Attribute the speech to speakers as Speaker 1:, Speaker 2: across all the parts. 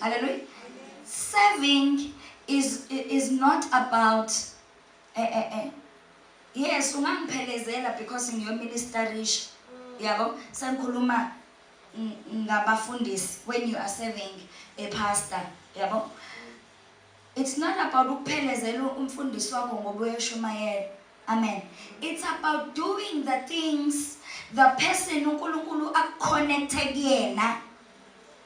Speaker 1: Hallelujah. Serving is, is not about eh, eh, eh. yes ungangiphelezela because ngiyoministerisha yabo sengikhuluma ngabafundisi when you are serving a pastor yabo it's not about ukuphelezela umfundisi wakho ngoba uyashumayela amen it's about doing the things the person unkulunkulu akuconnecte kuyena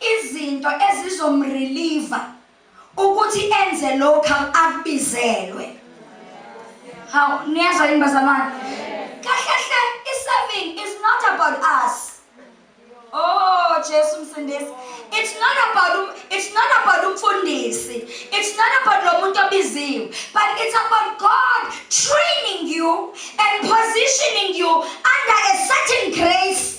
Speaker 1: izinto ezizomreliva ukuthi enze lokhu akubizelwe hawu niyezwa yini bazalwane kahle hle i-serving is not about us oh jesu msindisi it's not about um, it's not about umfundisi it's not about lo muntu obiziwe but it's about god training you and positioning you under a certain grace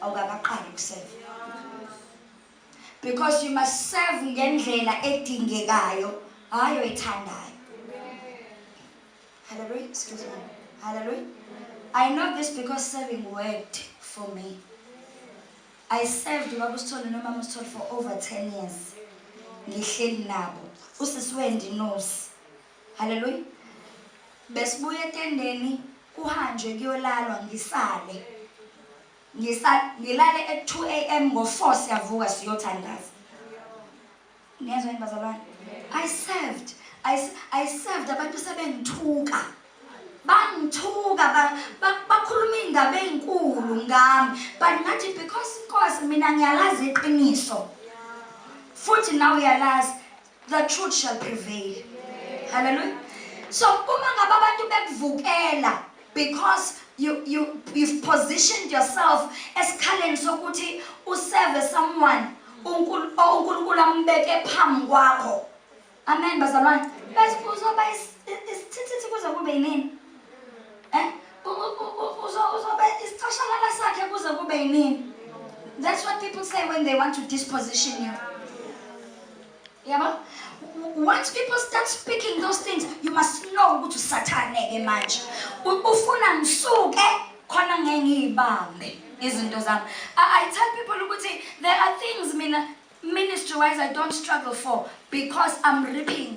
Speaker 1: awukakaqali ukuseva because you must serve ngendlela edingekayo hayi oyithandayo hallelujah excuse me hallelujah i know this because serving worked for me i served ubaba usithole nomama usithole for over 10 years ngihleli nabo usisiwendi nosi haleluya besibuya etendeni kuhanjwe kuyolalwa ngisale ngisa ngilale at 2 am ngo-4 siyavuka siyothandaza niyezwa yini bazalwane i served I, I served abantu sebengithuka bangithuka bakhuluma iy'ndaba ey'nkulu ngami but ngathi because inkosi mina ngiyalazi iqiniso futhi nawe uyalazi The truth shall prevail. Hallelujah. So uma ngabe abantu bekuvukela because you you you've positioned yourself esikhaleni sokuthi userve someone uNkulunkulu ambeke phambi kwakho. Amen bazalwane. Bese uzoba isithithi kuze kube yini? Eh? uzobe isicashalala sakhe kuze kube yinini that's what people say when they want to disposition you yabo once people start speaking those things you must know ukuthi usathane-ke manje ufuna ngisuke khona ngeke ngiyibambe izinto zami i tell people ukuthi there are things mina ministry wise i don't struggle for because i'm reaping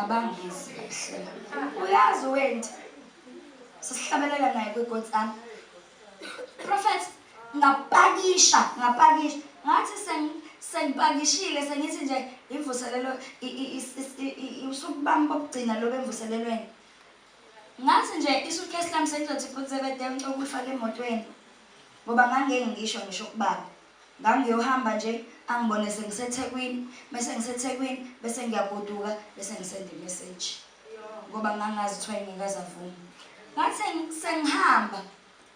Speaker 1: abangizi hlela uyazi wenti sisihlabelela naye kwigotsana prophet ngapakisha ngapakisha ngathi sengipakishile sengithi nje imvuselelo usuku bami bokugcina lobe emvuselelweni ngathi nje isuitcase lami sengizothi futhi sebedemcokufa lemotweni ngoba ngangeke ngisho ngisho kubaba Ngangiyohamba nje angibone sengiseThekwini, mese ngiseThekwini bese ngiyagoduka bese ngisenda imessage. Ngoba ngangazi kuthiwa engikaze avume. Ngathi sengihamba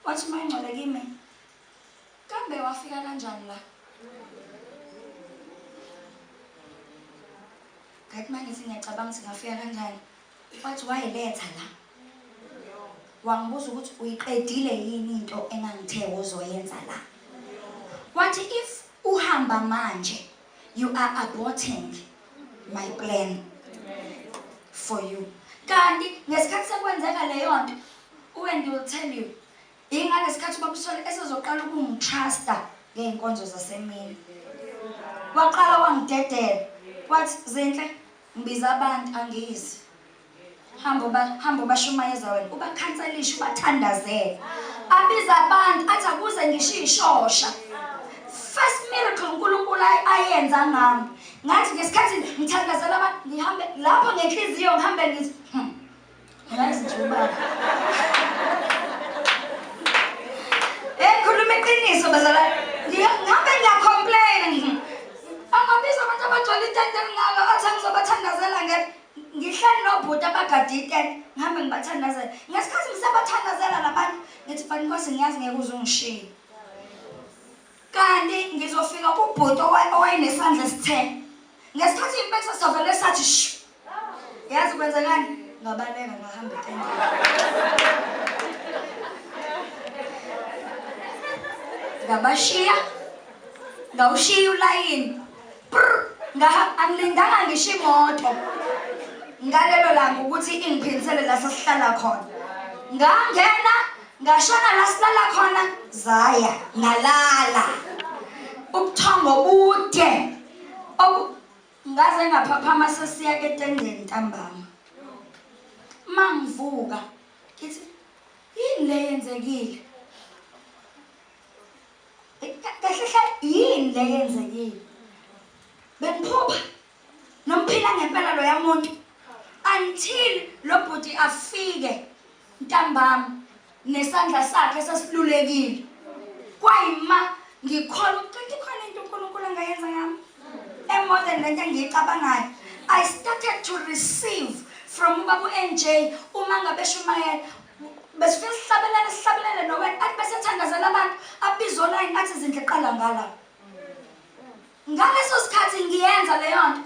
Speaker 1: wathi uMangcwele kimi kambe wafika kanjani la? Ngathi mangithi ngiyacabanga ukuthi ngafika kanjani. Mfowethu wayiletha la. Wangibuza ukuthi uyiqedile yini into engangithe uzoyenza la. Wathi if uhamba manje you are aborting my plan for you. Kanti ngesikhathi sekwenzeka leyo nto uWendy will tell you ingangesikhathi ubakusole esezoqala ukungitrasta ngey'nkonzo zasemini. Waqala wangidedela wathi zinhle Ngibiza abantu angizi. Hamba uba hamba ubashumayeza wena. Ubakhanselisha ubathandazela. Abiza abantu athi akuze ngisho ishosha. First miracle uNkulunkulu ayenza ngami. Ngathi ngesikhathi ngithandazela abantu ngihambe lapho ngenhliziyo ngihambe ngithi hmm. Yazi nje ubaba. Eh khuluma iqiniso bazalwane. Ngihambe ngiya complain. Angabiza abantu abagcwele itende ngalo athi ngizobathandazela nge ngihleli nobhuti abagade itende ngihambe ngibathandazela. Ngesikhathi ngisabathandazela labantu ngithi fanele inkosi ngiyazi ngeke uzungishiye. kanti ngizofika kubhuti owayenesandla esithele ngesikhathi impetha sovele sathi shu yazi kwenzekani ngabaleka ngahamba ngabashiya ngawushiya ulayini angilindanga ngisho imoto ngalelo langa ukuthi ingiphindisele la sesihlala khona ngangena Ngashona la silala khona zaya ngalala. Ubuthongo bude. Ngaze ngaphaphama sesiya ketendeni ntambama. Mangivuka ngithi yini le yenzekile? Kahle hle yini le yenzekile? Bengiphupha Nomphila ngempela loya muntu until lo bhuti afike ntambama nesandla sakhe sesilulekile. Kwayima ngikholwa ukuthi khona into uNkulunkulu angayenza ngami. Emodern lento engiyicabangayo. I started to receive from ubabu NJ uma ngabe shumayela besifike sihlabelele sihlabelele nowena athi bese thandazela abantu abize online athi izindle qala ngala Ngaleso sikhathi ngiyenza leyo nto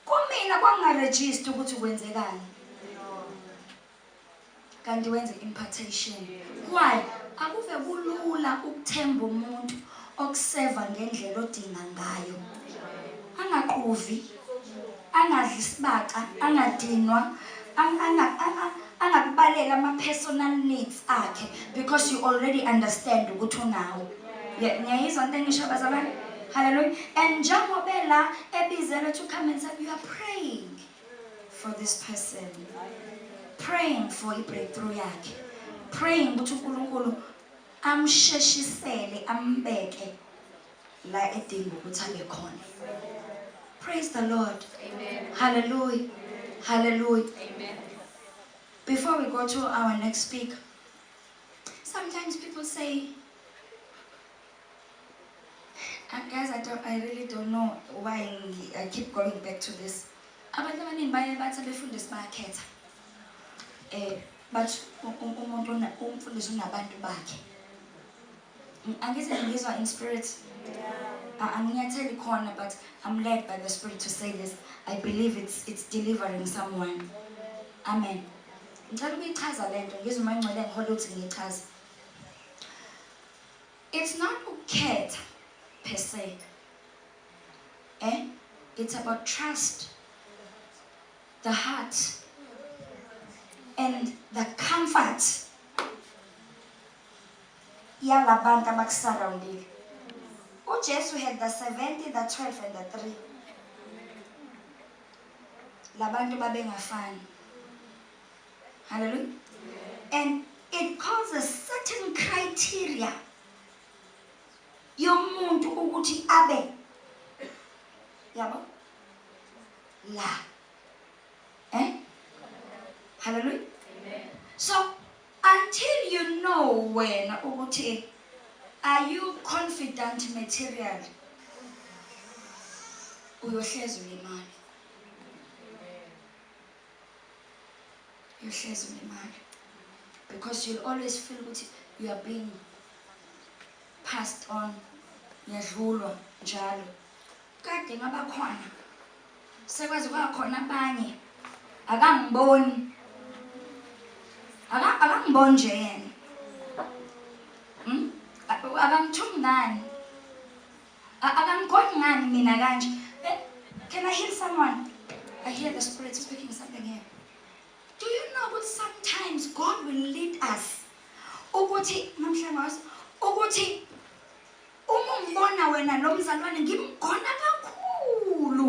Speaker 1: kumina kwakungaregister ukuthi kwenzekani. Kanti wenze impartation. Why? Akuve kulula ukuthemba umuntu okuseva ngendlela odinga ngayo. Angaquvi, angadli isibaca, angadinwa, anga angakubalela ama-personal needs akhe because you already understand ukuthi unawo ngiyayizwa into engisho bazalwane hallelujah and njengobe la ebizelwe to come and say you are praying for this person praying for i-breakthrough yakhe praying ukuthi unkulunkulu amsheshisele ambeke la edinga ukuthi abe khona praise the lord amen hallelujah amen. hallelujah amen before we go to our next speaker sometimes people say uh, guys i don't i really don't know why i keep going back to this abantu abaningi baye bathi abefundisi bayakhetha um bathi umuntu umfundisi unabantu bakhe Angithi ngizwa in spirit. Anginyatheli khona but I'm led by the spirit to say this. I believe it's it's delivering someone. Amen. Ngicela ukuyichaza lento ngizwe uma ingcwele ngihola ukuthi ngiyichaze. It's not ukukhetha per se. Eh? It's about trust. The heart and the comfort yalabantu abakusurroundile. UJesu had the 70, the 12 and the 3. Labantu babengafani. Hallelujah. And it calls a certain criteria yomuntu ukuthi abe yabo la eh hallelujah so Until you know wena ukuthi are you confident material uyohlezi ulimali uyohlezi ulimali because you'll always feel ukuthi you are being passed on yadlulwa njalo kade ngabakhona Sekwazi kwaba khona abanye. Akangiboni. Aka akangiboni nje yena. Hmm? Akamthumi ngani? Akamkhoni ngani mina kanje? Eh, can I hear someone? I hear the spirit speaking something here. Do you know that sometimes God will lead us ukuthi namhlanje ukuthi Uma umbona wena lo mzalwane ngimgona kakhulu.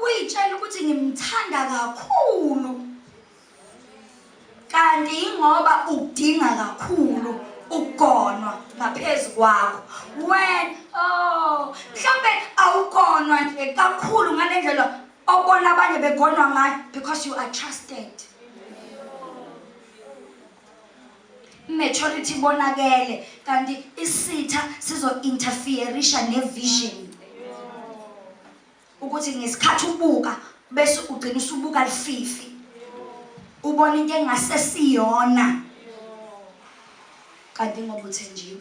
Speaker 1: Uyitshela ukuthi ngimthanda kakhulu. Kanti ingoba udinga kakhulu ugonwa ngaphezu kwakho. Wena oh mhlambe awugonwa nje kakhulu ngalendlela obona abanye begonwa ngayo because you are trusted. Immaturity bonakele kanti isitha sizo interferisha ne vision. Ukuthi ngesikhathi ubuka bese ugcina usubuka lififi. Ubona into engasesiyona. Kanti ngoba uthenjiwe.